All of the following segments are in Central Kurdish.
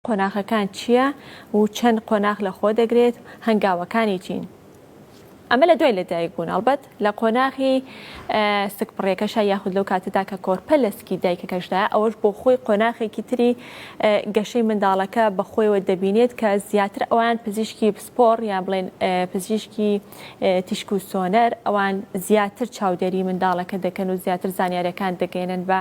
قۆناغەکان چییە و چەند قۆناغ لەخۆ دەگرێت؟ هەنگاوەکانی چین؟ ئەمە لە دوای لەدایک بوون ئەڵبەت لە قۆناغی سکپڕیەکەشا یاخود لەو کاتەدا کە کۆرپە لە سکی دایکەکەشدایە ئەوەش بۆ خۆی قۆناغێکی تری گەشەی منداڵەکە بە خۆیەوە دەبینێت کە زیاتر ئەوان پزیشکی پسپۆڕ یان بڵێن پزیشکی تیشک و سۆنەر ئەوان زیاتر چاودێری منداڵەکە دەکەن و زیاتر زانیارەکان دەگەێنن بە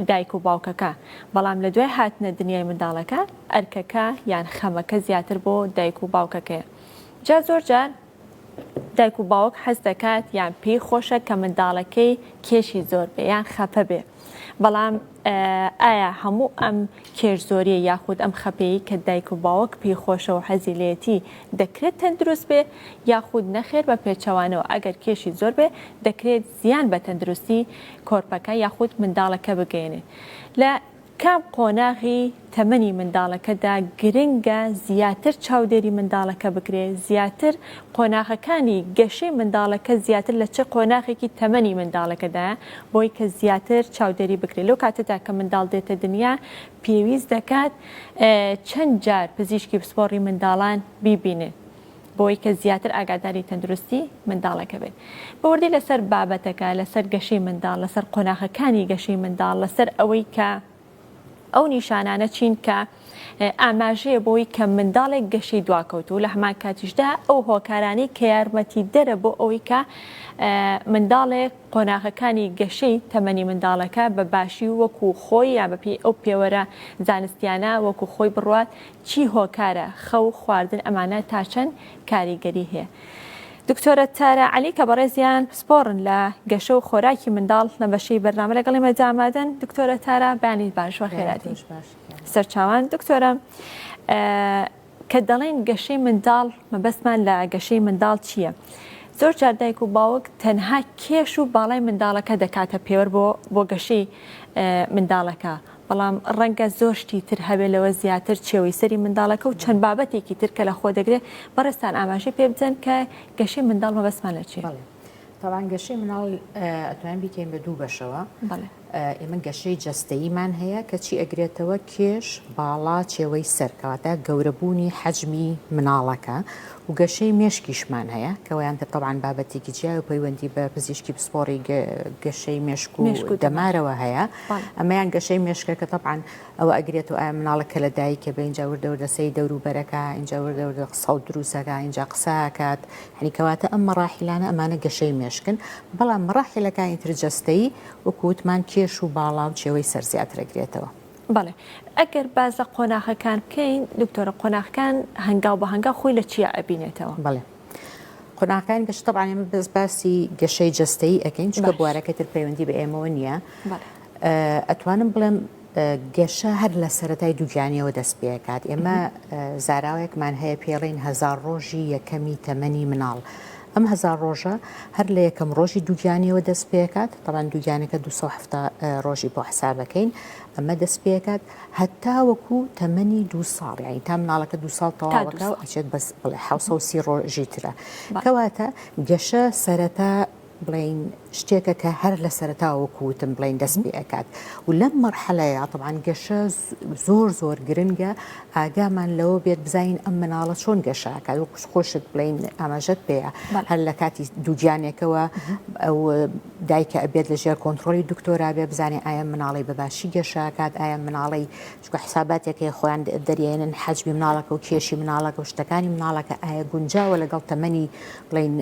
دایک و باوکەکە بەڵام لە دوای هاتنە دنیای منداڵەکە ئەرکەکە یان خەمەکە زیاتر بۆ دایک و باوکەکەیە جا زۆر جار دایک و باوک حەز دەکات یان پێی خۆشە کە منداڵەکەی کێشی زۆر بێ یان خەپە بێ بەڵام ئایا هەموو ئەم کێش زۆریە یاخود ئەم خەپەیە کە دایک و باوەک پێی خۆشە و حەزیلێتی دەکرێت تەندروست بێ یاخود نەخێر بە پێچەوانەوە ئەگەر کێشی زۆر بێ دەکرێت زیان بە تەندروستی کۆرپەکە یاخود منداڵەکە بگەیەنێت لە کام قۆناغی تەمەنی منداڵەکەدا گرنگە زیاتر چاودێری منداڵەکە بکرێت زیاتر قۆناغەکانی گەشەی منداڵەکە زیاتر لە چ قۆناغێکی تەمەنی منداڵەکەدا بۆی کە زیاتر چاودێری بکرێت لەو کاتەدا کە منداڵ دێتە دنیا پێویست دەکات چەند جار پزیشکی پسپۆڕی منداڵان بیبینێت بەوەی کە زیاتر ئاگاداری تەندروستی منداڵەکە بێت بە وردی لەسەر بابەتەکە لەسەر گەشەی منداڵ لەسەر قۆناخەکانی گەشەی منداڵ لەسەر ئەوەی کە ئەو نیشانانە چین کە ئاماژەیە بۆی کە منداڵێک گەشەی دواکەوت و لە هەمان کاتیشدا ئەو هۆکارانی کە یارمەتی دەرە بۆ ئەوەی کە منداڵێک قۆناغەکانی گەشەی تەمەنی منداڵەکە بە باشی وەکو خۆی یا بەپی ئەو پێوەرە زانستیانە وەکو خۆی بڕوات چی هۆکارە خەو خواردن ئەمانە تاچەن کاریگەری هەیە دکتۆرە تارا علی کە بەڕێزیان پسپۆڕن لە گەشە و خۆراکی منداڵ لە بەشی بەرنامە لەگەڵ ئێمە دامادەن دکتۆرە تارا بەیانی باش و خێراتی سەرچاوان دکتۆرە کە دەڵێن گەشەی منداڵ مەبەستمان لە گەشەی منداڵ چییە؟ زۆر جاردایک و باوک تەنها کێش و باڵای منداڵەکە دەکاتە پێوەر بۆ بۆ گەشەی منداڵەکە بەڵام ڕەنگە زۆر شتی تر هەبێ لەوە زیاتر چێوەی سەری منداڵەکە و چەند بابەتێکی تر کە لەخۆ دەگرێ بەڕێزتان ئاماژەی پێ بدەن کە گەشەی منداڵ مەبەستمان لە چیە؟ بەڵێ تاوان گەشەی مناڵ ئەتوان بیکەین بە دوو بەشەوە ئێمە گەشەی جەستەیمان هەیە کەچی ئەگرێتەوە کێش باڵا چێوەی سەرکەواتە گەورەبوونی حەجمی مناڵەکە و گەشەی مێشکیشمان هەیە کەوەیان تر تەوان بابەتێکی جیا و پەیوەندی بە پزیشکی پسپۆڕی گەشەی مێشک و دەمارەوە هەیە. ئەمەیان گەشەی مێشکەکە تەبعەن ئەوە ئەگرێت و ئایا مناڵە کە لە دایکە بە اینجا وردە وردە سەی دەورو بەرەکە اینجا وردە وردە قسە و دروسەکە اینجا قساکات هەنی کەواتە ئەم مەڕاحیلانە ئەمانە گەشەی مێشکن بەڵام مەڕاحیلەکانی تر جەستەیی وکووتمان کێش و باڵا و چێوەی سەر زیاترە گرێتەوە. بەڵێ ئەگەر باس لە قۆناغەکان بکەین دکتۆرە قۆناغکان هەنگاو بە هەنگاو خۆی لە چیا ئەبینێتەوە؟ بەڵێ. قۆناغەکانی بەش طبعا ئێمە بەس باسی گەشەی جەستەیی ئەەکەین چکە بوارەکە تر پەیوەندی بە ئێمەوە نییە ئەتوانم بڵێم گەشە هەر لە سەتای دووگیانیەوە دەست پێکات ئێمە زاراوەیەکمان هەیە پێڵین هزار ڕۆژی یەکەمی تەمەنی مناڵ. ئەم هزار ڕۆژە هەر لە یەکەم ڕۆژی دووگیانیەوە دەست پێکات تەوان دووگیانەکە 270 ڕۆژی بۆ حسابەکەین ئەمە دەست پێکات هەتاوەکو تەمەنی دوو ساڵ یانی تا مناڵەکە دوو ساڵ تەواوەکە و ئەچێت بەس بڵێ حوسەسی ڕۆژی ترە کەواتە گەشە سەرەتا بڵین شتێکە کە هەر لە سەرتاوەکوتم بڵین دەست پێ ئەکات و لەم مەرحەلەیە تەبان گەشە زۆر زۆر گرنگە ئاگامان لەوە بێت بزین ئەم مناڵە چۆن گەشاکە و خوش خۆشت بڵین ئاماژەت پێەیە هەر لە کاتی دووگیانێکەوە دایکە ئەبێت لە ژێر کۆنتڕۆلی دکتۆرا بێ بزانێ ئایا مناڵی بە باشی گەشەکات ئایا مناڵی چکە حساباتێکی خۆیان دەریێنن حەجمی مناڵەکە و کێشی مناڵەکە و شتەکانی مناڵەکە ئایا گونجاوە لەگەڵ تەمەنی بڵین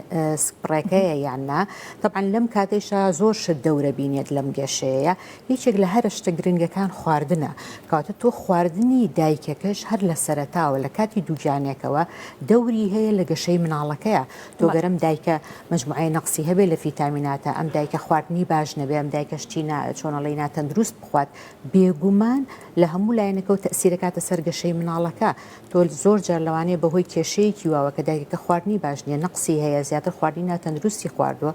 سپڕێکەیە یان نا طبعا لەم کاتێشا زۆر شت دەورە بینێت لەم گەشەیە یەکێک لە هەرە شتە گرنگەکان خواردنە کاتە تۆ خواردنی دایکەکەش هەر لە سەرتاوە لە کاتی دووگیانێکەوە دەوری هەیە لە گەشەی مناڵەکەیە تۆگەرم دایکە مەجموعەی نەقسی هەبێت لە فیتامیناتا، ئەم دایکە خواردنی باش نەبێت، ئەم دایکە شتی نا چۆنەڵی ناتەندروست بخوات، بێگومان لە هەموو لایەنەکەوە تەئسیر ئەکاتە سەر گەشەی مناڵەکە، تۆ زۆر جار لەوانەیە بە هۆی کێشەیەکی واوە کە دایکەکە خواردنی باش نیە، نەقسی هەیە، زیاتر خواردنی ناتەندروستی خواردووە،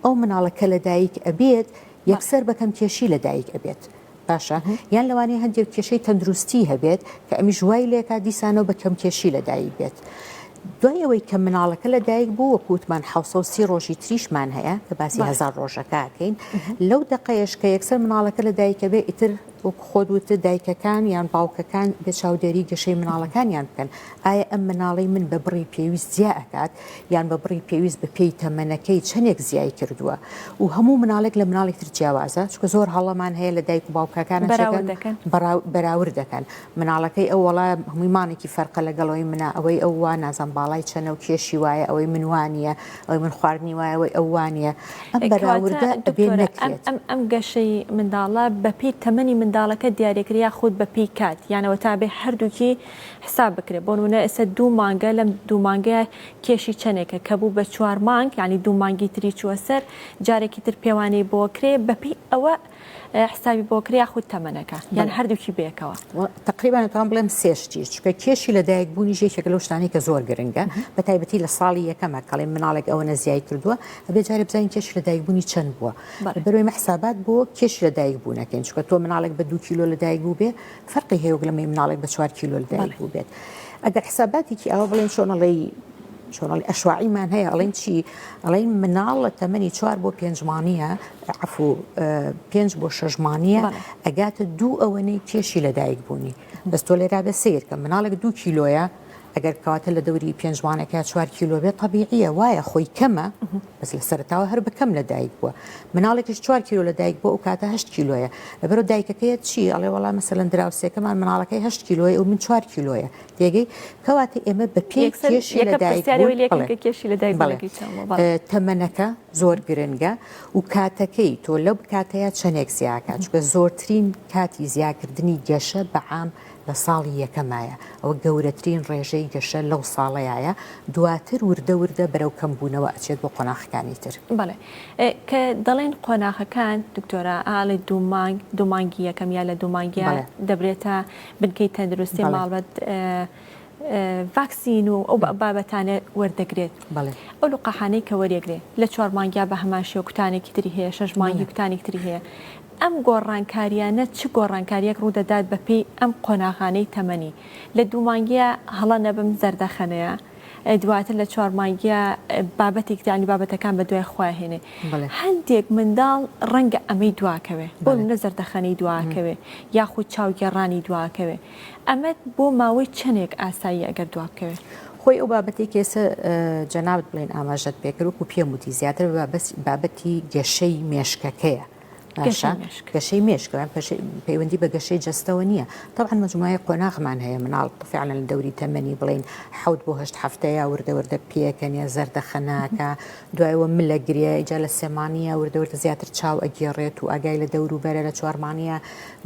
ئەو مناڵە کە لە دایک ئەبێت یەکسەر بە کەم کێشی لە دایک ئەبێت، باشە یان لەوانەیە هەندێک کێشەی تەندروستی هەبێت کە ئەمیش وای لێکا دیسانەوە بە کەم کێشی لەدایک بێت دوای ئەوەی کە مناڵەکە لە دایک بوو وە کووتمان حوسە سی ڕۆژی تریشمان هەیە کە باسی هزار ڕۆژەکەکەین لەو دقەیەش کە یەکسەر مناڵەکە لە دایکە بێ ئیتر وەک خۆت وتە دایکەکان یان باوکەکان بێ چاودێری گەشەی مناڵەکانیان بکەن ئایا ئەم مناڵی من بە بڕی پێویست زیاکات یان بە بڕی پێویست بە پێی تەمەنەکەی چەندێک زیای کردووە و هەموو مناڵێک لە مناڵێک تر جیاوازە چکە زۆر هەڵەمان هەیە لە دایک و باوکەکان بەراورد دەکەن مناڵەکەی ئەو وڵا هەمووی مانێکی فەرقە لەگەڵەوەی منە ئەوەی ئەو وا نازان باڵای چەنە و کێشی وایە ئەوەی منوانە ئەوەی من خواردنی وایەوەی ئەوانە ئەم بەراوردە ئەم گەشەی منداڵە بەپی تەمەنی منداڵەکە دیارێکریا خود بەپی کات یانەوە تابێ هەردووکی حساب بکرێت بۆنمونە ئێستا دوو مانگە لەم دوو مانگەیە کێشی چەنێکە کە بوو بە چوار مانگ یعنی دوو مانگی تری چووە سەر جارێکی تر پێوانەی بۆ کرێ بەپی ئەوە حسابی بۆ کرێ یاخود تەمەنەکە یان هەردووکی بێکەوە تقریبان تام بڵێم سێشتی چکە کێشی لە دایک بوونی ژێکێک لەو شتانی کە زۆر گرنگە بە تایبەتی لە ساڵی یەکەمە کەڵێ مناڵێک ئەوە نەزیای کردووە ئەبێ جارێ بزانین کێش لە دایک بوونی چەند بووە بەروێ مەحسابات بۆ کێش لە دایک بوونەکەین چکە تۆ مناڵێک بە دوو کیلۆ لە دایک بوو بێ فەرقی هەیە وەک لەمەی مناڵێک بە چوار کیلۆ لەدایک بوو بێت ئەگەر حساباتێکی ئەوە بڵێن چۆنەڵی چۆنەڵی ئەشواعیمان هەیە ئەڵێن چی ئەڵێن مناڵ لە تەمەنی چوار بۆ پێنجمانە عفو پێنج بۆ شەژمانە ئەگاتە دوو ئەوەنەی کێشی لەدایک بوونی بەستۆ لێرا بە سیرکە مناڵێک دوو کیلۆیە ئەگەر کەواتە لە دەوری پێنجوانەکە چوار کیلۆ بێت تەبیعە وایە خۆی کەمە بەس لە سەرتاوە هەر بەکەم لە دایک بووە مناڵێکش چوار کیلو لە دایک بۆ ئەو کاتە هەشت کیلۆیە لەبەرو دایکەکەیە چی ئەڵێ وڵا مەسەلەن دراوسێکەمان مناڵەکەی هەشت کیلۆی و من چوار کیلۆیە تێگەی کەواتە ئێمە بە پێ کێشی لە دایک کێشی لە دایک تەمەنەکە زۆر گرنگە و کاتەکەی تۆ لەو کاتەیە چەندێک زیاکە چکە زۆرترین کاتی زیاکردنی گەشە بەعام لە ساڵی یەکەمایە، ئەوە گەورەترین ڕێژەی گەشە لەو ساڵەیایە، دواتر وردە وردە بەرەو کەمبوونەوە ئەچێت بۆ قۆناخەکانی تر. بەڵێ کە دەڵێن قۆناغەکان دکتۆرە ئاڵێ دوو مانگ دوو مانگی یەکەم یا لە دوو مانگیا دەبرێتە بنکەی تەندروستی ماڵبەت ڤاکسین و ئەو بابەتانە وەردەگرێت ئەو لقاحانەی کە وەرێگرێت لە چوار مانگیا بە هەمان شێوە کوتانێکی تری هەیە شەش مانگی کوتانێک تری هەیە ئەم گۆڕانکارییانە چ گۆڕانکارییەک ڕوودەدات بەپێی ئەم قۆناغانەی تەمەنی، لە دوو مانگییە هەڵە نەبم زەردەخەنەیە، دواتر لە چوار مانگییە بابەتێکی تر یانی بابەتەکان بە دوای خۆیان هێنێ. هەندێک منداڵ ڕەنگە ئەمەی دواکەوێ، بۆ نموونە زەردەخەنەی دواکەوێ یاخود چاوگێڕانی دواکەوێ. ئەمەت بۆ ماوەی چەندێک ئاساییە ئەگەر دوابکەوێ؟ خۆی ئەو بابەتەی کە ئێستا جەنابت بڵێن ئاماژەت پێکرد وەکو پێم وتی زیاتر بە بابەتی گەشەی مێشکەکەیە، باشە گەشەی مێشک پەیوەندی بە گەشەی جستەوە نییە تاوان مجموعی قۆناغمان هەیە مناڵ فعلە لە دەوری تەمەنی بڵین حوت بۆ هەشت هەفتەیە وردەوردە پێکەنیە زەردە خەناکە دوایەوە ملە گرێ ئیجا لە سێمانە وردەوردە زیاتر چاو ئەگێڕێت و ئاگای لە دەور و بەرە لە چوارمانە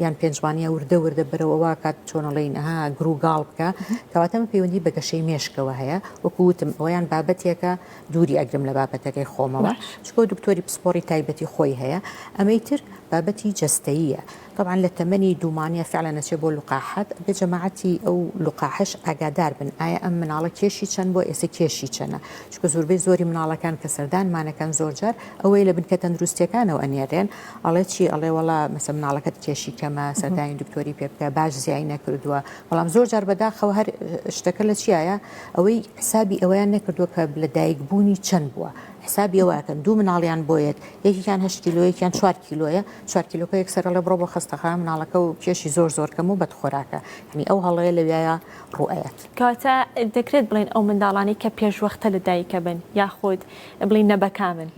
یان پێنجمانە وردە وردە بەرەوەوا کات چۆنەڵین ها گروگاڵ بکە کەواتەمە پەیوەندی بە گەشەی مێشکەوە هەیە وەکووتم ئەویان بابەتێکە دووری ئەگرم لە بابەتەکەی خۆمەوە چکۆ دکتۆری پسپۆری تایبەتی خۆی هەیە ئەمەی تر بابەتی جەستەیە طبعاان لە تەمەنی دوومانە فعلا نەچێ بۆ لقاحات بە جەماعەتی ئەو لقاحش ئاگادار بن ئایا ئەم مناڵە کێشی چەند بۆ ئێسە کێشی چەنە چکە زوربەی زۆری مناڵەکان کە سەردانمانەکەن زۆرجار ئەوەی لە بنکە تەندروستەکانەوە ئەنێرێن ئەڵێ چی ئەڵێ وڵا مەسە مناڵەکەت کێشی کەمە سەردانی دکتۆری پێ بکە باش زیای نەکردووە بەڵام زۆر جار بەداخەوە هەر شتەکە لە چیایە ئەوەی حسابی ئەوەیان نەکردووە کە لە دایک بوونی چەند بووە حسابی ئەوەکەن دوو مناڵیان بۆیەت یەکیان هە کیلۆیەکیان چوار کیلۆیە چوار کیلۆکە یەک سەرە لە بڕۆ بۆ خستەخە مناڵەکە و کێشی زۆر زۆر کەم و بەد خۆراکە هەنی ئەو هەڵەیە لەوایە ڕوئەت. کەواتە دەکرێت بڵێن ئەو منداڵانەی کە پێشوەختە لە دایکە بن یاخود بڵین نەبەکامن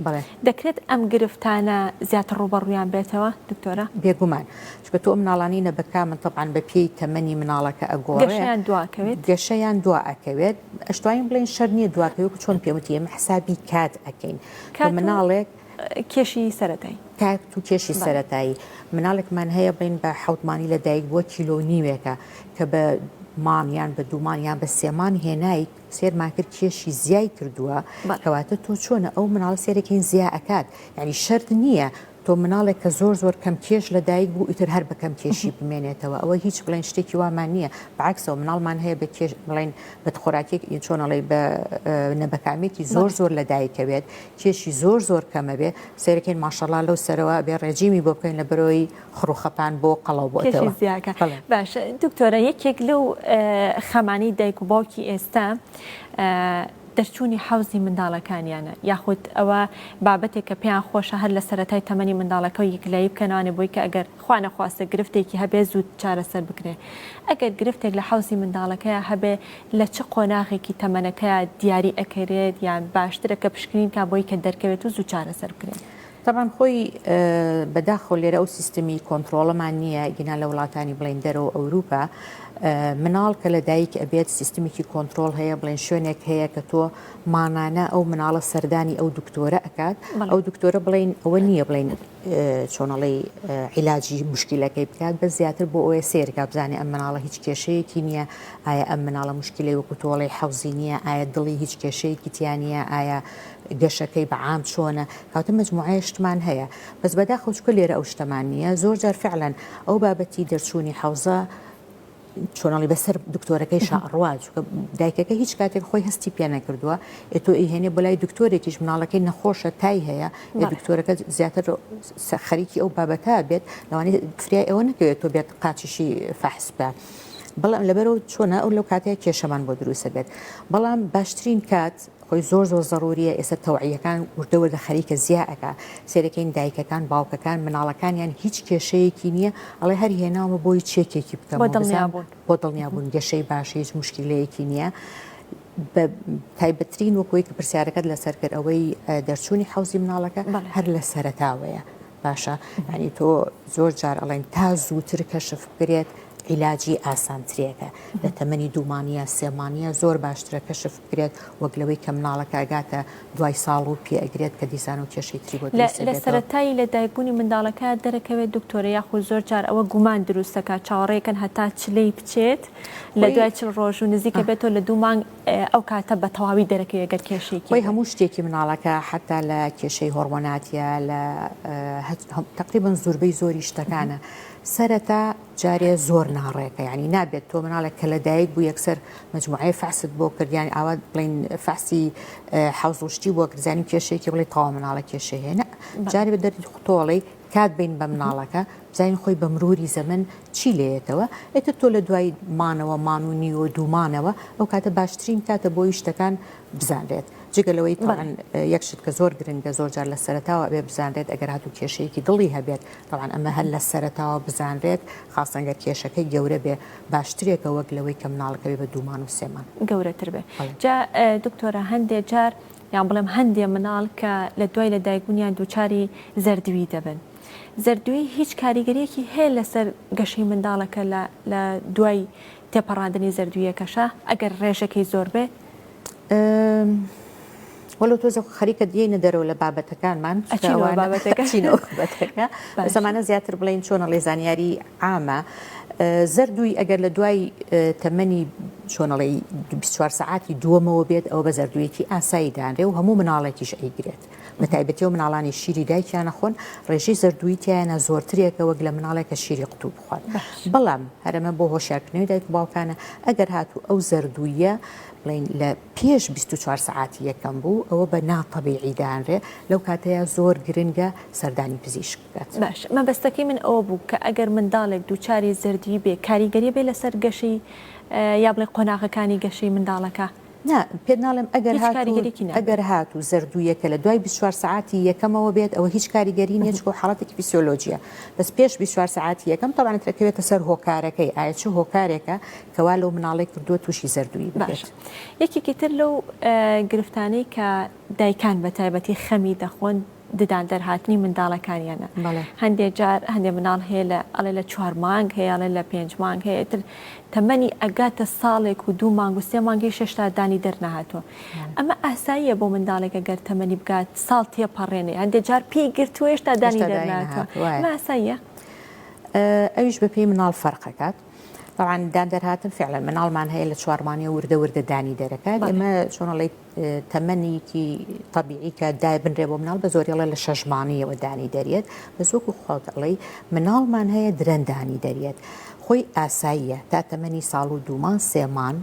دەکرێت ئەم گرفتانە زیاتر ڕوبەڕویان بێتەوە دکتۆرە؟ بێگومان چونکە تۆ ئەو مناڵانەی نەبەکا من تەبعەن بە پێی تەمەنی مناڵەکە ئەگۆڕێ گەشەیان دوا ئەکەوێت گەشەیان دوا ئەکەوێت ئەشتوانین بڵێن شەر نییە دوا کەوێت چۆن پێم وتی ئێمە حسابی کات ئەکەین کە کات و مناڵێک کێشی سەرەتای کات و کێشی بەڵێ سەرەتایی مناڵێکمان هەیە بڵێن بە حەوت مانگی لە دایک بووە کیلۆ و نیوێکە کە بە مانگ یان بە دوو مانگ یان بە سێ مانگ هێنای سێرمان کرد کێشی زیای کردووە بەڵێ کەواتە تۆ چۆنە ئەو مناڵە سێرەکەین زیا ئەکات یعنی شەرت نییە تۆ مناڵێک کە زۆر زۆر کەم کێش لە دایک بوو ئیتر هەر بە کەم کێشی بمێنێتەوە ئەوە هیچ بڵێن شتێکی وامان نییە بەعکسەوە مناڵمان هەیە بە کێش بڵێن بە خۆراکێک ئی چۆنەڵی بە نەبەکامێکی زۆر زۆر لە دایکەوێت کێشی زۆر زۆر کەمەبێ سێرەکەین ماشەڵا لەو سەرەوە بێ ڕێجیمی بۆ بکەین لە بەرۆی خڕوخەپان بۆ قەڵەو بۆتەوە زیاکە باش دکتۆرە یەکێک لەو خەمانی دایک و باوکی ئێستا دەرچوونی حەوزی منداڵەکانیانە یاخود ئەوە بابەتێکە پێیان خۆشە هەر لە سەرەتای تەمەنی منداڵەکە و یەکلایی بکەنەوانێ بۆی کە ئەگەر خوا نەخواستە گرفتێکی هەبێ زوو چارەسەر بکرێ ئەگەر گرفتێک لە حەوزی منداڵەکەیا هەبێ لە چ قۆناغێکی تەمەنەکەیا دیاری ئەکەرێت یان باشترە کە پشکنین کا بۆی کە دەرکەوێت و زوو چارەسەر بکرێت؟ تەبعەن خۆی بەداخەوە لێرە ئەو سیستمی کۆنتڕۆڵەمان نییە گینا لە وڵاتانی بڵین دەرەوە ئەوروپا مناڵ کە لە دایک ئەبێت سیستمێکی کۆنتترۆل هەیە بڵێن شوێنێک هەیە کە تۆ مانانە ئەو مناڵە سەردانی ئەو دکتۆرە ئەکات ئەو دکتۆرە بڵین ئەوە نییە بڵین چۆنەڵی عیلاجی مشکلەکەی بکات بە زیاتر بۆ ئەوە سێرگا بزانێ ئەم مناڵە هیچ کێشەیەکی نییە ئایا ئەم مناڵە مشکلی وەکو تۆڵی حەوزی نییە ئایا دڵی هیچ کێشەیەکی تیانە ئایا گەشەکەی بەعام چۆنە تازە مەجموعەیشتمان هەیە بەس بەداخەوە چونکە لێرە ئەو شتەمان نییە زۆر جار فعلەن ئەو بابەتی دەرچوونی حەوزە چۆنەڵی بەسەر دکتۆرەکەی شەڕوا چونکە دایکەکە هیچ کاتێک خۆی هەستی پێ نەکردووە ئێ تۆ ئیهێنێ بۆ لای دکتۆرێکیش مناڵەکەی نەخۆشە تای هەیە ئێ دکتۆرەکە زیاتر خەریکی ئەو بابەتە بێت لەوانی فریا ئەوە نەکەوێت تۆ بێت قاچیشی فەحس بە. بەڵام لەبەرەوە چۆنە ئەو لەو کاتەیە کێشەمان بۆ دروستە بێت بەڵام باشترین کات خۆی زۆر زۆر زەڕوریە ئێستا تەوعیەکان وردە وردە خەریکە زیا ئەکا سێدەکەین دایکەکان باوکەکان مناڵەکانیان هیچ کێشەیەکی نیە ئەڵێ هەر هێناومە بۆی چێکێکی بکەم بۆ دڵنیابوون گەشەی باش هیچ مشکلەیەکی نیە بە تایبەترین وەکۆی کە پرسیارەکەت لەسەر کرد ئەوەی دەرچوونی حوزی مناڵەکە هەر لە سەرتاوەیە باشە یانی تۆ زۆر جار ئەڵێن تا زووتر کەشف بکرێت عیلاجی ئاسانترێکە لە تەمەنی دوومانە سێمانە زۆر باشترە کەشف بکرێت وەک لەوەی کە مناڵەکە ئەگاتە دوای ساڵ و پێگرێت کە دیزان و کێشی تری بۆ لە سەرەتایی لە دایکبوونی منداڵەکە دەرەکەوێت دکتۆرە یاخود زۆر جار ئەوە گومان دروستەکە چاوەڕێکن هەتا چلەی بچێت لە دوای چل ڕۆژ و نزیکە بێتەوە لە دوو مانگ ئەو کاتە بە تەواوی دەرەکەوێت گەر کێشێکی خۆی هەموو شتێکی مناڵەکە حتا لە کێشەی هۆرمۆناتە لە تقریبن زوربەی زۆری شتەکانە سەرەتا جارێ زۆر ناڕێکە ینی نابێت تۆ مناڵێک کە لە دایک بوو یەکسەر مجموعی فەست بۆ کردیان ئاوا بڵین فەسی حوزشتی بۆ کرزانانی کێشێکی بڵێ تاوا مناڵە کێشە هێنە جارێ بە دەردی خوتۆڵی کات بین بە مناڵەکە بزانین خۆی بە مروری زەمەن چی لێیەتەوە ئیتر تۆ لە دوای مانەوە مان و نیوە دوو مانەوە ئەو کاتە باشترین کاتە بۆی شتەکان بزانرێت جگە لەوەی تاوان یەک شت کە زۆر گرنگە زۆر جار لە سەرتاوە ئەبێ بزانرێت ئەگەر هاتو کێشەیەکی دڵی هەبێت تاوان ئەمە هەر لە سەرتاوە بزانرێت خاستەنگەر کێشەکەی گەورە بێ باشترێکە وەک لەوەی کە مناڵەکەی بە دوومان و سێمان گەورەتر بێ جا دکتۆرە هەندێ جار یان بڵێم هەندێ مناڵ کە لە دوای لە دایکبوونیان دووچاری زەردوی دەبن زەردوویی هیچ کاریگەریەکی هەیە لەسەر گەشەی منداڵەکە لە لە دوای تێپەڕاندنی زەردوویەکەشا ئەگەر ڕێژەکەی زۆر بێت؟ وەللە تۆزێ خەریکە دێینە دەرەوە لە بابەتەکانمان زمانە زیاتر بڵین چۆنە ڵێ زانیاری عامە زەردووی ئەگەر لە دوای تەمەنی چۆنەڵی 24 سعاتی دووەمەوە بێت ئەو بە زەردوویەکی ئاسایی دانرێ و هەموو مناڵێکیش ئەیگرێت بەتایبەتی ئەو مناڵانەی شیری دایکیان نەخۆن ڕێژەی زەردووی تیایانە زۆرترێکە وەک لە مناڵێک کە شیری قوتوو بخوات بەڵام هەرەمە بۆ هۆشارکردنەوەی دایک و باوکانە ئەگەر هاتوو ئەو زەردوویە بڵین لە پێش 24 سعاتی یەکەم بوو ئەوە بە ناتەبیعی دانرێ لەو کاتەیە زۆر گرنگە سەردانی پزیشک بکات باش مەبەستەکەی من ئەوە بوو کە ئەگەر منداڵێک دووچاری زەردوی بێ کاریگەری بێ لەسەر گەشەی یا بڵێ قۆناغەکانی گەشەی منداڵەکە نا، پێت ناڵێم ئەگەر هیچ هات و کاریگەریەکی نابێت. ئەگەر هات و زەردوویەکە لە دوای بیست و چوار سەعاتی یەکەمەوە بێت ئەوە هیچ کاریگەری نییە چونکە حاڵەتێکی فیسیۆلۆجییە بەس پێش بیست و چوار سەعاتی یەکەم تەبعەن ئەتر ئەکەوێتە سەر هۆکارەکەی ئایە چ هۆکارێکە کە وا لەو مناڵەی کردووە تووشی زەردوویی ببێت. باشە یەکێکی تر لەو گرفتانەی کە دایکان بە تایبەتی خەمی دەخۆن ددان دەرهاتنی منداڵەکانیانە هەندێ جار هەندێ مناڵ هەیە لە ئەڵێ لە چوار مانگ هەیە ئەڵێ لە پێنج مانگ هەیە تر تەمەنی ئەگاتە ساڵێک و دوو مانگ و سێ مانگی شەشتا دانی دەرنەهاتوە ئەمە ئاساییە بۆ منداڵێکە گەر تەمەنی بگات ساڵ تێپەڕێنێ هەندێ جار پێی گرتوێش تا دانی دەرناتوە ماساییە ئەویش بە پێی مناڵ فەرقەکات بەوان دان دەرهاتن فعلەن مناڵمان هەیە لە چوارمانە وردە وردە دانی دەرەکات ئەمە چۆنەڵی تەمەنیکی تەبیعی کە دایبنرێ بۆ مناڵ بە زۆری ئەڵێ لە شەش مانگیەوە دانی دەریێت بەس وەکو خۆت ئەڵێی مناڵمان هەیە درەن دانی دەریێت خۆی ئاساییە تا تەمەنی ساڵ و دوومان سێمان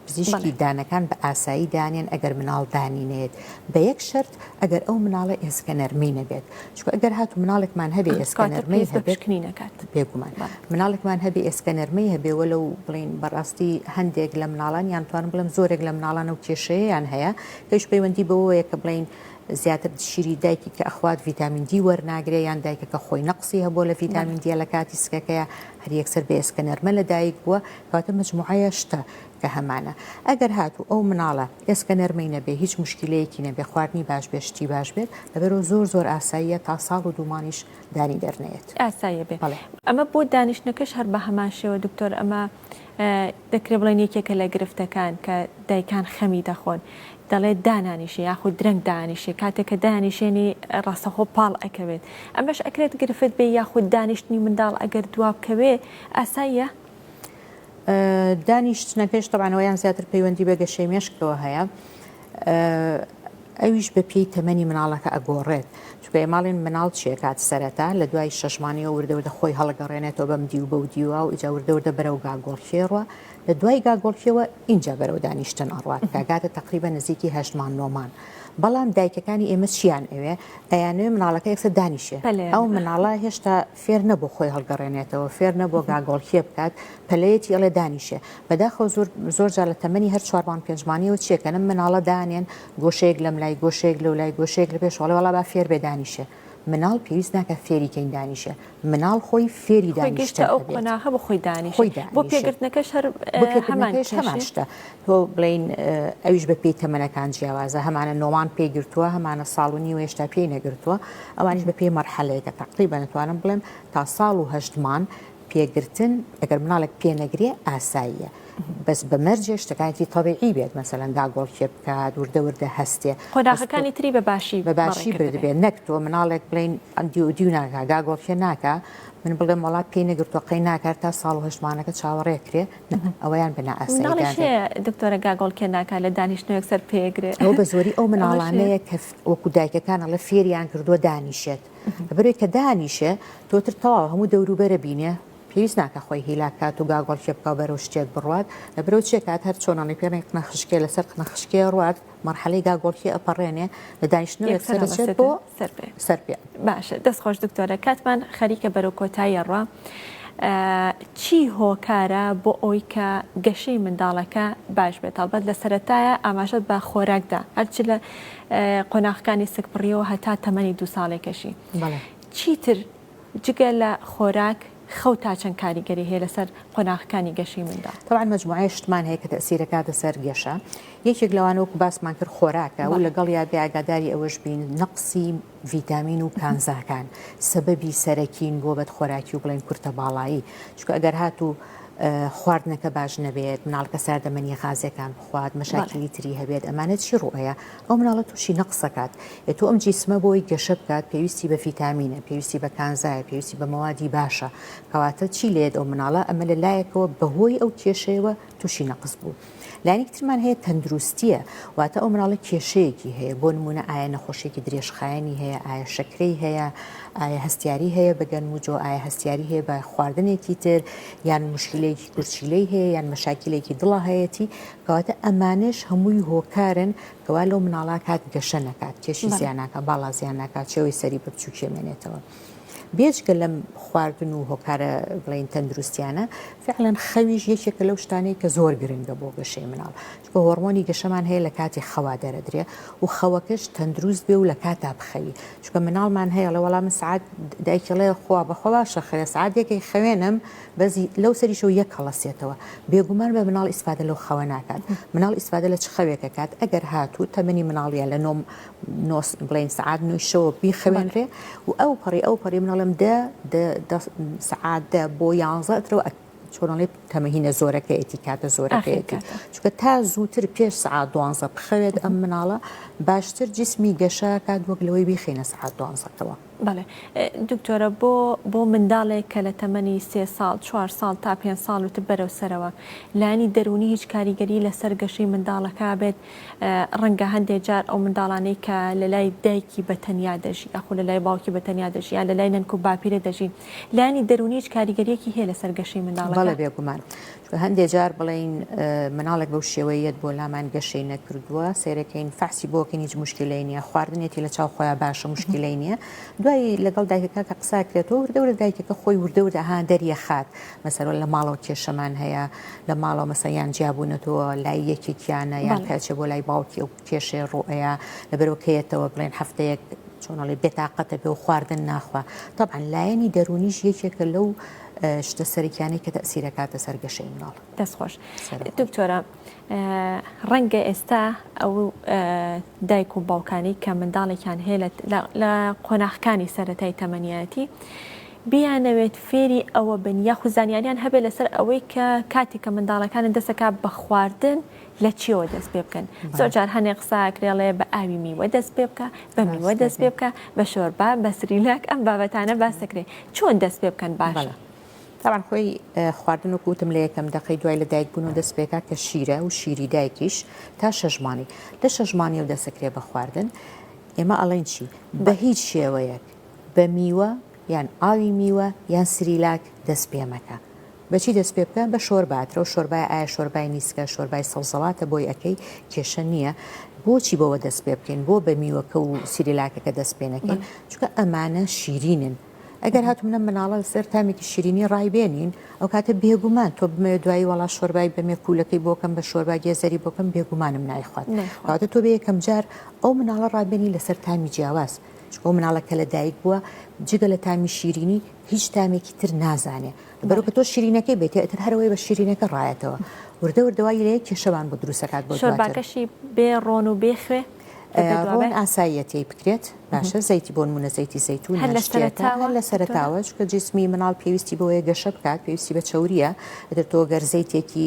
پزیشکی دانەکان بە ئاسایی دانێن ئەگەر مناڵ دانینێت بە یەک شرت ئەگەر ئەو مناڵە ئێسکە نەرمی نەبێت چکە ئەگەر هات و مناڵێکمان هەبێ ئێسکانەرمەی هەبێتنی نەکات بێگومان مناڵێکمان هەبێ ئێسکەنەرمەی هەبێ وە لەو بڵین بەڕاستی هەندێک لە مناڵان یان توانم بڵم زۆرێک لە مناڵان و کێشەیەیان هەیە پێش پەیوەندی بەوەیە کە بڵین زیاتر شیری دایکی کە ئەخوات ڤیتامین دی وەرناگرێ یان دایکەکە خۆی نەقسی هەبوو لە ڤیتامین دیە لە کاتی سکەکەیە هەر یەکسەر بێسکە نەرمە لە دایک بووە کاتە مجموعەیە شتە کە هەمانە ئەگەر هاتوو ئەو مناڵە ئێسکە نەرمەی نەبێ هیچ موشکیلەیەکی نەبێ خواردنی باش بێ شتی باش بێت لەبەرو زۆر زۆر ئاساییە تا ساڵ و دوو مانگیش دانی دەرنەیەت ئاساییە بێ بەڵێ. ئەمە بۆ دانیشتنەکەش هەر بەهەمان شێوە دکتۆر ئەمە دەکرێ بڵێن یەکێکە لە گرفتەکان کە دایکان خەمی دەخۆن دەڵێت دانانیشێ یاخود درەنگ دانیشێ کاتێک کە دانیشێنی ڕاستەخۆ پاڵ ئەکەوێت ئەمەش ئەکرێت گرفت بێ یاخود دانیشتنی منداڵ ئەگەر دوابکەوێ ئاساییە؟ دانیشتنە پێش تەبانەوەیان زیاتر پەیوەندی بە گەشەی مێشکەوە هەیە ئەویش بە پێی تەمەنی مناڵەکە ئەگۆڕێت چکە ماڵێن مناڵ چێکات سەرەتا لە دوای شەشمانەوە وردەوردە خۆی هەڵگەڕێنێتەوە بەم دی و بە و دیوە و ئیجا وردەوردە بەرە و گاگۆڵکێڕوە لە دوای گاگۆڵکیەوە اینجا بەرەوە دانیشتن ئەڕات کاگاتە تقریبە نزیکی هەشتمان نۆمان بەڵام دایکەکانی ئێمە چیان ئەوێ ئەیانێ مناڵەکە یەکسە دانیشێ ئەو مناڵە هێشتا فێر نەبوو خۆی هەڵگەڕێنێتەوە، فێر نەبووە گاگۆڵکێ بکات، پەلەیەتی ئەڵێ دانیشێ. بەداخەوە زۆر زۆر جار لە تەمەنی هەر چوارمان پێنجمانیەوە چیەکەن، ئەم مناڵە دانێن گۆشەیەک لەملای، گۆشەیەک لەولای، گۆشەیەک لە پێشەوە، ئەڵێ وەڵا با فێر بێ دانیشێ. مناڵ پێویست ناکات فێری کەین دانیشێ، مناڵ خۆی فێری دانیشتن ئەبێت. خۆی دانیشێ. بۆ پێگرتنەکەش هەر هەمان شتە. تۆ بڵێین ئەویش بە پێی تەمەنەکان جیاوازە هەمانە نۆمان پێی گرتووە هەمانە ساڵ و نیوە هێشتا پێی نەگرتووە ئەوانش بە پێی مەرحەلەیەکە تەقلی بەنتوانم بڵێم تا ساڵ و هەشتمان پێگرتن ئەگەر مناڵێک پێنەگرێ ئاساییە. بەس بە مەرجێ شتەکانتی تەبیعی بێت مەسەلەن داگۆڵ کێ بکات وردە وردە هەستێ خۆداخەکانی تری بە باشی بە باشی بردبێت نەک تۆ مناڵێک بڵین ئەندی و دیو ناکە داگۆڵ کێ ناکە من بڵێم وڵات پێی نەگرتوەقەی ناکات تا ساڵ و هەشتمانەکە چاوەڕێکرێ نەبن ئەوەیان بە نائاسایی دادەن. مناڵیش هەیە دکتۆرە گاگۆڵ کێ ناکات لە دانیشتنەوەک سەر پێگرێ. ئەوە بە زۆری ئەو مناڵانەیە کە وەکو دایکەکان ئەڵێ فێریان کردووە دانیشێت لەبەرەوەی کە دانیشێ تۆتر تەواو هەموو دەوروبەرە بینێ پێویست ناکە خۆی هیلاک کات و گاگۆڵ کێ بکە و بەرەو شتێک بڕوات لە برەو چێ کات هەر چۆنەڵی پێنێک قنە خشکێ لەسەر قنە خشکێ ڕوات مەرحەلەی گاگۆڵکی ئەپەڕێنێ لە دانیشتنەوەک سەرچێت بۆ سەر پێ سەر پێ باشە دەست خۆش دکتۆرە کاتمان خەریکە بەرەو کۆتاییە ڕە چی هۆکارە بۆ ئەوی کە گەشەی منداڵەکە باش بێت هەڵبەت لە سەتایە ئاماژەت بە خۆراکدا هەرچ لە قۆناغەکانی سکپڕیەوە هەتا تەمەنی دو ساڵێکەشی چیتر جگە لە خۆراک، خەو تا چەند کاریگەری هەیە لەسەر قۆناغەکانی گەشەی منداڵ؟ تەبعەن مەجموعەیەک شتمان هەیە کە تەئسیر ئەکاتە سەر گەشە، یەکێک لەوانە وەکو باسمان کرد خۆراکە و لەگەڵیا بێ ئاگاداری ئەوەش بین نەقسی ڤیتامین و کانزاکان سەبەبی سەرەکین بۆ بەد خۆراکی و بڵێن کورتە باڵایی، چونکە ئەگەر هاتوو خواردنەکە باش نەبێت، مناڵەکە ساردەمەنی غازیەکان بخوات، مەشاکیلی تری هەبێت، ئەمانە چی ڕوئەیە؟ ئەو مناڵە توشی نەقس ئەکات ئێتۆ ئەم جیسمە بۆی گەشە بکات پێویستی بە فیتامینە پێویستی بە کانزایە پێویستی بە مەوادی باشە کەواتە چی لێت ئەو مناڵە ئەمە لە لایەکەوە بەهۆی ئەو کێشەیەوە توشی نەقس بوو لایەنێکی ترمان هەیە تەندروستیە واتە ئەو مناڵە کێشەیەکی هەیە بۆ نمونە ئایا نەخۆشیێکی درێژخایەنی هەیە ئایا شەکرەی هەیە ئایا هەستیاری هەیە بەگەن وجۆ ئایا هەستیاری هەیە بە خواردنێکی تر یان مشکلەیەکی کورچیلەی هەیە یان مەشاکیلێکی دڵە هەیەی کەواتە ئەمانەش هەمووی هۆکارن کەوا لەو مناڵا کات گەشە نەکات کێشی زیانناکە باڵا زیانناکات چێوەی سەری بە بچووکێ مێنێتەوە. بێجگە لەم خواردن و هۆکارە بڵین تەندروستیانە فعلەن خەویش یەکێکە لەو شتانەی کە زۆر گرنگە بۆ گەشەی مناڵ چکە هۆرمۆنی گەشەمان هەیە لە کاتی خەوا دەرەدرێ و خەوەکەش تەندروست بێ و لە کاتا بخەوی چکە مناڵمان هەیە لە وەڵام سعات دایکڵێ خوا بەخوا شەخێ سعاتێکی خوێنم بەزی لەو سەریشەوە یەک هەڵەسێتەوە بێگومان بە مناڵ ئیسفادە لەو خەوە ناکات مناڵ ئیسفادە لە چ خەوێکە کات ئەگەر هاتوو تەمەنی مناڵیە لە نۆم نۆس بڵین سعات نویشەوە بیخەوێنرێ و ئەو پەڕی ئەو پەڕی مناڵم دە سعات دە بۆ یانزە ئەترەوە ئەک چۆنڵێ تەمەهینە زۆرەکەیەتی کاتە زۆرەکەیەتی چکە تا زووتر پێش سعات دوانزە بخەوێت ئەم مناڵە باشتر جسمی گەشە کات وەک لەوەی بیخینە سعات دوانزەکەەوە بەڵێ دکتۆرە بۆ بۆ منداڵێک کە لە تەمەنی سێ ساڵ چوار ساڵ تا پێنج ساڵ وتر بەرەو سەرەوە لانی دەرونی هیچ کاریگەری لەسەر گەشەی منداڵەکە بێت ڕەنگە هەندێک جار ئەو منداڵانەی کە لە لای دایکی بە تەنیا دەژی ئەخو لە لای باوکی بە تەنیا دەژی یا لە لای نەنکو باپیرە دەژی لانی دەرونی هیچ کاریگەریەکی هەیە لەسەر گەشەی منداڵەکە بەڵێ بێگومان هەندێ جار بڵێین مناڵێک بەو شێوەیەت بۆ لامان گەشەی نەکردووە سەیرەکەین فەحسی بۆکەین هیچ مشکلەی نییە خواردنێتی لە چاو خۆیان باشە مشکلەی نییە دوایی لەگەڵ دایکەکە کە قساکرێتەوە وردە ورە دایکەکە خۆی وردە وردە ها دەریە خات مەسەرەوە لە ماڵەوە کێشەمان هەیە لە ماڵەوە مەسەیان جیابوونەتەوە لای یەکێکیانە یان کەچە بۆ لای باوکی و کێشێ ڕۆەیە لەبەرەوەکەیەتەوە بڵێن هەفتەیەک چۆنڵی بێتاقەتە بێ و خواردن ناخوا طبعا لایەنی دەرونیش یەکێکە لەو شتە سەرکیانەی کە تەسیرەکاتە سەر گەشەی مناڵ دەست خۆش دکتۆرە ڕەنگە ئێستا ئەو دایک و باوکانی کە منداڵێکیان هەیە لە قۆناخەکانی سەتای تەمەنیەتی بیانەوێت فێری ئەوە بن یاخوزانیاریان هەبێت لەسەر ئەوەی کە کاتێک کە منداڵەکانن دەسەکە بە خواردن لە چیەوە دەست پێ بکەن زۆر جار هەنێ قساکرێڵێ بە ئاوی میوە دەست پێ بکە بە میوە دەست پێ بکە بە شۆربا بە سریناک ئەم بابەتانە باسەکرێ چۆن دەست پێ بکەن باشە. تاوان خۆی خواردن و کوتم لە یەکەم دەقی دوای لە دایک بوون و دەست پێکات کە شیرە و شیری دایکیش تا شەژمانی لە شەژمانی و دەسەکرێ بە خواردن ئێمە ئەڵێن چی بە هیچ شێوەیەک بە میوە یان ئاوی میوە یان سریلاک دەست پێ مەکە بەچی دەست پێ بکە بە شۆربا ئەترەو شۆربای ئایا شۆربای میسکە شۆربای سەوزەواتە بۆی ئەکەی کێشە نییە بۆچی بەوە دەست پێ بکەین بۆ بە میوەکە و سریلاکەکە دەست پێ نەکەین چونکە ئەمانە شیرینن ئەگەر هات منە مناڵە لەسەر تامێکی شیرینی ڕایبێنین ئەو کاتە بێگومان تۆ بمەوێت دوایی وڵا شۆربای بەمێ کوولەکەی بۆکەم بە شۆربا گێزەری بۆکەم بێگومانم نایخوات کاتە تۆ بێ یەکەم جار ئەو مناڵە ڕابێنی لەسەر تامی جیاواز بۆ مناڵە کە لە دایک بووە جگە لە تامی شیرینی هیچ تامێکی تر نازانێ بەرو کە تۆ شیرینەکەی بێتێ ئەتر هەرەوەی بە شیرینەکە ڕایەتەوە وردە وردەوای لەیە کێشەوان بۆ دروستەکات بۆ شۆرباکەشی بێ ڕۆن و بێ خوێ ڕۆن ئاساییەتی بکرێت باشە زەیتی بۆن منە زەیتی زەیتون هەر لە سەرتاوە چکە جسمی مناڵ پێویستی بۆیە گەشە بکات پێویستی بە چوریە ئەتر تۆ گەر زەیتێکی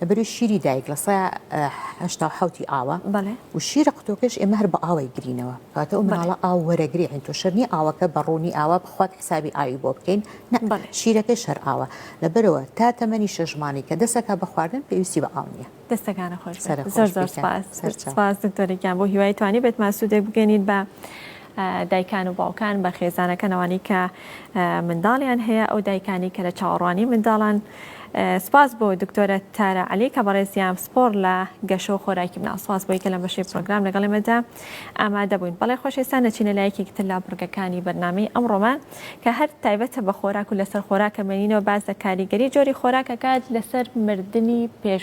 لە بەری شیری دایک لە سەیا هەشتا و حەوتی ئاوە بەڵێ و شیرە قوتۆکەش ئێمە هەر بە ئاوەی گرینەوە کاتە و مناڵە ئاو وەرەگری عین تۆ شەرنی ئاوەکە بە ڕوونی ئاوا بخوات حسابی ئاوی بۆ بکەین نەبڵێ شیرەکەی شەر ئاوە لەبەرەوە تا تەمەنی شەژمانی کە دەسەکە بە خواردن پێویستی بە ئاو نییە دەستەکانە خۆش زۆر زۆر سپاس سپاس دکتۆرێکیان بۆ هیوای توانی بێت ماسوودێک بگەنیت بە دایکان و باوکان بە خێزانەکان ئەوانەی کە منداڵیان هەیە ئەو دایکانی کە لە چاوەڕوانی منداڵان سپاس بۆ دکتۆرە تارە علی کە بەڕێزیان سپۆر لە گەشە و خۆراکی مناڵ سپاس بۆی کە لە بەشی پرۆگرام لەگەڵ ئێمەدا ئامادە بووین بەڵێ خۆشێسان نەچینە لایەکێکی تر لە بڕگەکانی بەرنامەی ئەمڕۆمان کە هەر تایبەتە بە خۆراک و لەسەر خۆراکە مێنینەوە باز لە کاریگەری جۆری خۆراکەکات لەسەر مردنی پێش